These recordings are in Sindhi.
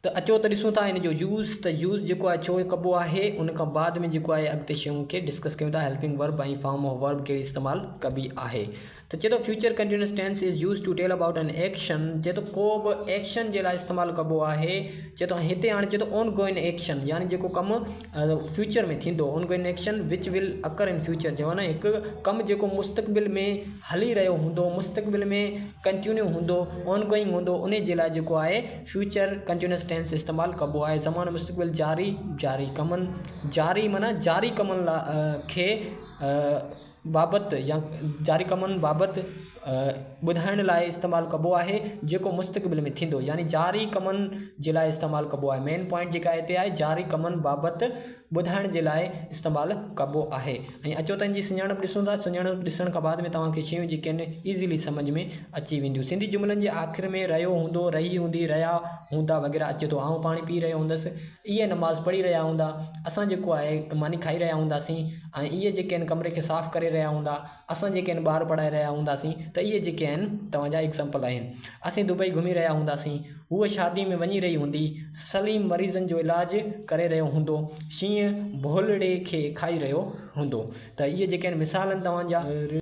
ته اچو ته ڏسون ٿا ان جو يوز ته يوز جيڪو آهي ڇو ڪبو آهي ان کان بعد ۾ جيڪو آهي اڳتي شيون کي ڊسڪس ڪيون ٿا helping verb ۽ form of verb کي استعمال ڪبي آهي ته چي ٿو future continuous tense is use to tell about an action چي ٿو ڪو به ايڪشن جي لاء استعمال ڪبو آهي چي ٿو هتي هاڻي چي ٿو اون گوئن ايڪشن يعني جيڪو ڪم فيوچر ۾ ٿيندو ان ڪن ايڪشن وچ ول اڪر ان فيوچر جو آهي هڪ ڪم جيڪو مستقبل ۾ هلي رهيو هوندو مستقبل ۾ ڪنٽينيو هوندو آن گوئنگ هوندو ان جي لاء جيڪو آهي فيوچر ڪنٽينيوس ٽينس استعمال ڪبو آهي زمان مستقبل جاري جاري ڪمن جاري معنيٰ جاري ڪمن لاء کي بابت يا جاري ڪمن بابت ٻڌائڻ لاء استعمال ڪبو آهي جيڪو مستقبل ۾ ٿيندو يعني جاري ڪمن جي لاء استعمال ڪبو آهي مين پوائنٽ جيڪا هتي آهي جاري ڪمن بابت ٻڌائڻ جي لاء استعمال ڪبو آهي ۽ اچو ته ان جي سڃاڻپ ڏسون ٿا سڃاڻپ ڏسڻ کان بعد ۾ توهان کي شيون جيڪي آهن ايزلي سمجھ ۾ اچي وينديون سنڌي جملن جي آخر ۾ رهيو هوندو رهي هوندي رهيا هوندا وغيره اچي ٿو آئون پاڻي پي رهيو هوندس اهي نماز پڙهي رهيا هوندا اسان جيڪو آهي ماني کائي رهيا هونداسين ۽ اهي جيڪي آهن ڪمري کي صاف ڪري رهيا هوندا اسان جيڪي آهن ٻار پڙهائي رهيا هونداسين ته اهي جيڪي آهن توهان جا ايگزامپل آهن اسين دبئي گهمي رهيا هونداسين هوء شادي ۾ وڃي رهي هوندي سليم مريضن جو علاج ڪري رهيو هوندو شينهن ڀولڙي کي کائي رهيو هوندو ته اهي جيڪي آهن مثال آهن توهان جا.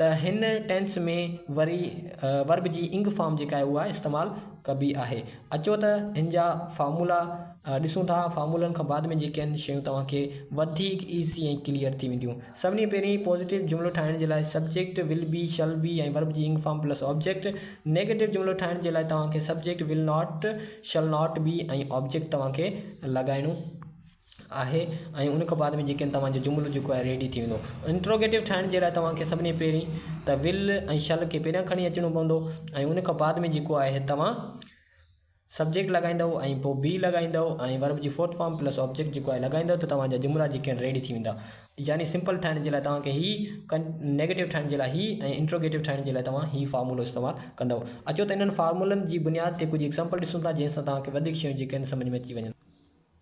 ته هن ٽينس ۾ وري ورب جي انگ فارم جيڪا آهي اها استعمال ڪبي آهي. اچو ته هن جا فارمولا ڏسون ٿا. فارمولن کان بعد ۾ جيڪي هن شيون توهان کي وڌيڪ ايزي ۽ ڪليئر ٿي وينديون. سڀني پهرين پازيٽو جملو ٺاهڻ جي لاء سبجيڪٽ، ول بي، شل بي ۽ ورب جي ing form plus object. Negative جملو ٺاهڻ جي لاء توهان کي subject, will not, shall not be ۽ object توهان کي لڳائڻو. آهي ۽ ان کان بعد ۾ جيڪڏهن توهان جو جملو جيڪو آهي ريڊي ٿي ويندو انٽروگيٽو ٺاهڻ جي لاء توهان کي سڀني پهرين ته ول ۽ شل کي پهريان کڻي اچڻو پوندو ۽ ان کان بعد ۾ جيڪو آهي توهان سبجيڪٽ لڳائيندؤ ۽ پوء بي لڳائيندؤ ۽ ورب جي فورٿ فارم پلس آبجيڪٽ جيڪو آهي لڳائيندؤ ته توهان جا جملا جيڪي آهن ريڊي ٿي ويندا يعني سمپل ٺاهڻ جي لاء توهان کي هي ڪن نيگيٽو ٺاهڻ جي لاء هي ۽ انٽروگيٽو ٺاهڻ جي لاء توهان هي فارمولو استعمال ڪندؤ اچو ته انهن فارمولن جي بنياد تي ڪجهه ايگزامپل ڏسون ٿا جنهن سان توهان کي وڌيڪ شيون جيڪي آهن سمجهه ۾ اچي وڃن.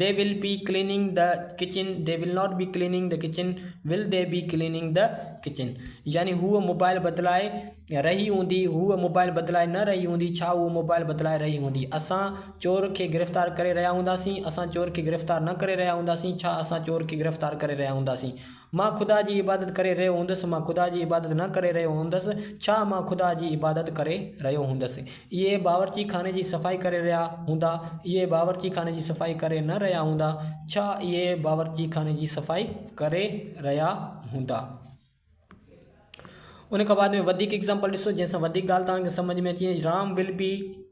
They will be cleaning the kitchen They will not be cleaning the kitchen Will they be cleaning the kitchen يعني هوء موبائل بدلائي رهي هوندي هوء موبائل بدلائي نه رهي هوندي ڇا هوء موبائل بدلائي رهي هوندي اسان چور کي گرفتار ڪري رهيا هونداسين اسان چور کي گرفتار نه ڪري رهيا هونداسين ڇا اسان چور کي گرفتار ڪري رهيا هونداسين مان خدا جي عبادت ڪري رهيو هوندس، مان خدا جي عبادت نه ڪري رهيو هوندس، ڇا مان خدا جي عبادت ڪري رهيو هوندس. اهي باورچي خاني جي صفائي ڪري رهيا هوندا، اهي باورچي خاني جي صفائي ڪري نه رهيا هوندا، ڇا اهي باورچي خاني جي صفائي ڪري رهيا هوندا. ان کان بعد ۾ وڌيڪ ايگزامپل ڏسو جنهن سان وڌيڪ ڳالهه توهان کي سمجهه ۾ اچي وڃي رام ول بي.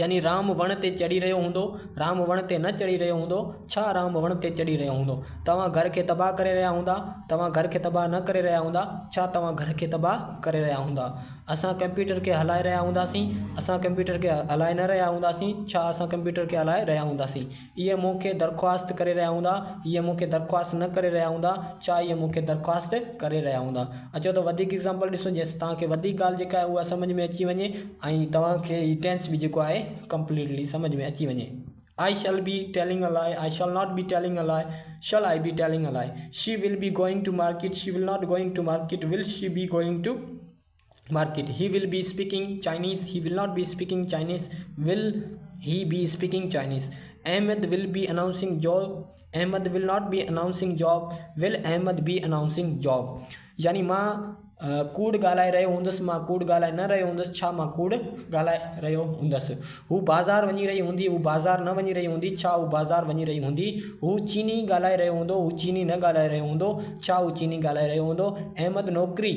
يعني رام وڻ تي چڙهي رهيو هوندو، رام وڻ تي نه چڙهي رهيو هوندو، ڇا رام وڻ تي چڙهي رهيو هوندو؟ توهان گهر کي تباهه ڪري رهيا هوندا، توهان گهر کي تباهه نه ڪري رهيا هوندا، ڇا توهان گهر کي تباهه ڪري رهيا هوندا؟ اسان ڪمپيوٽر کي هلائي رهيا هونداسين، اسان ڪمپيوٽر کي هلائي نه رهيا هونداسين، ڇا اسان ڪمپيوٽر کي هلائي رهيا هونداسين؟ اهي مون کي درخواست ڪري رهيا هوندا، اهي مون کي درخواست نه ڪري رهيا هوندا، ڇا اهي مون کي درخواست ڪري رهيا هوندا. اچو ته وڌيڪ ايگزامپل ڏسون جنهن سان توهان کي وڌيڪ ڳالهه جيڪا آهي اها سمجهه ۾ اچي وڃي ۽ توهان کي هي ٽينس به جيڪو آهي ڪمپليٽلي سمجهه ۾ اچي وڃي آئي شل بي telling a lie, I shall not be telling a lie, shall I be telling a lie, she will be going to market, she will not going to market, will she be going to. Market he will be speaking Chinese he will not be speaking Chinese will he be speaking Chinese Ahmed will be announcing job Ahmed will not be announcing job will Ahmed be announcing job يعني مان ڪوڙ ڳالهائي رهيو هوندس مان ڪوڙ ڳالهائي نه رهيو هوندس ڇا مان ڪوڙ ڳالهائي رهيو هوندس هو بازار وڃي رهي هوندي هو بازار نه وڃي رهي هوندي ڇا هو بازار وڃي رهي هوندي هو چيني ڳالهائي رهيو هوندو هو چيني نه ڳالهائي رهيو هوندو ڇا هو چيني ڳالهائي رهيو هوندو احمد نوڪري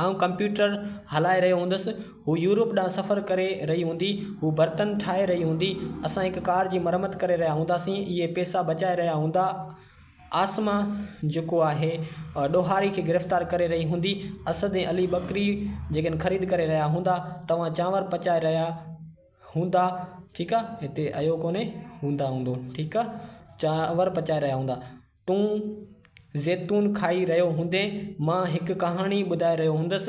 آئون ڪمپيوٽر هلائي رهيو هوندس. هو يورپ ڏانهن سفر ڪري رهي هوندي. هو برتن ٺاهي رهي هوندي. اسان هڪ ڪار جي مرمت ڪري رهيا هونداسين. اهي پيسا بچائي رهيا هوندا. عاصمه جيڪو آهي ڏوهاري کي گرفتار ڪري رهي هوندي. اسد ۽ علي ٻڪري جيڪن خريد ڪري رهيا هوندا. توهان چانور پچائي رهيا هوندا. ٺيڪ آ. هتي ايو ڪونهي هوندا هوندو. ٺيڪ آ. چانور پچائي رهيا هوندا. تون زيتون کائي رهيو هوندين، مان هڪ ڪهاڻي ٻڌائي رهيو هوندس،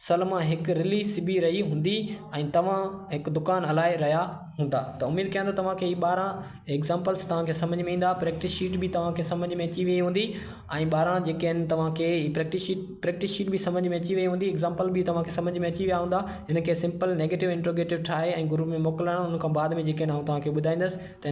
سلميٰ هڪ رلي سبي رهي هوندي ۽ توهان هڪ دڪان هلائي رهيا هوندا ته اميد ڪيان ٿو توهان کي هي ٻارهن ايگزامپلس توهان کي سمجهه ۾ ايندا، پريڪٽس شيٽ به توهان کي سمجهه ۾ اچي ويئي هوندي ۽ ٻارهن جيڪي آهن توهان کي هي پريڪٽس شيٽ پريڪٽس شيٽ به سمجهه ۾ اچي ويئي هوندي ايگزامپل به توهان کي سمجهه ۾ اچي ويا هوندا هن کي سمپل نيگيٽو انٽروگيٽو ٺاهي ۽ گروپ ۾ موڪلڻ ان کان بعد ۾ جيڪي آهن آئون توهان کي ٻڌائيندس ته هن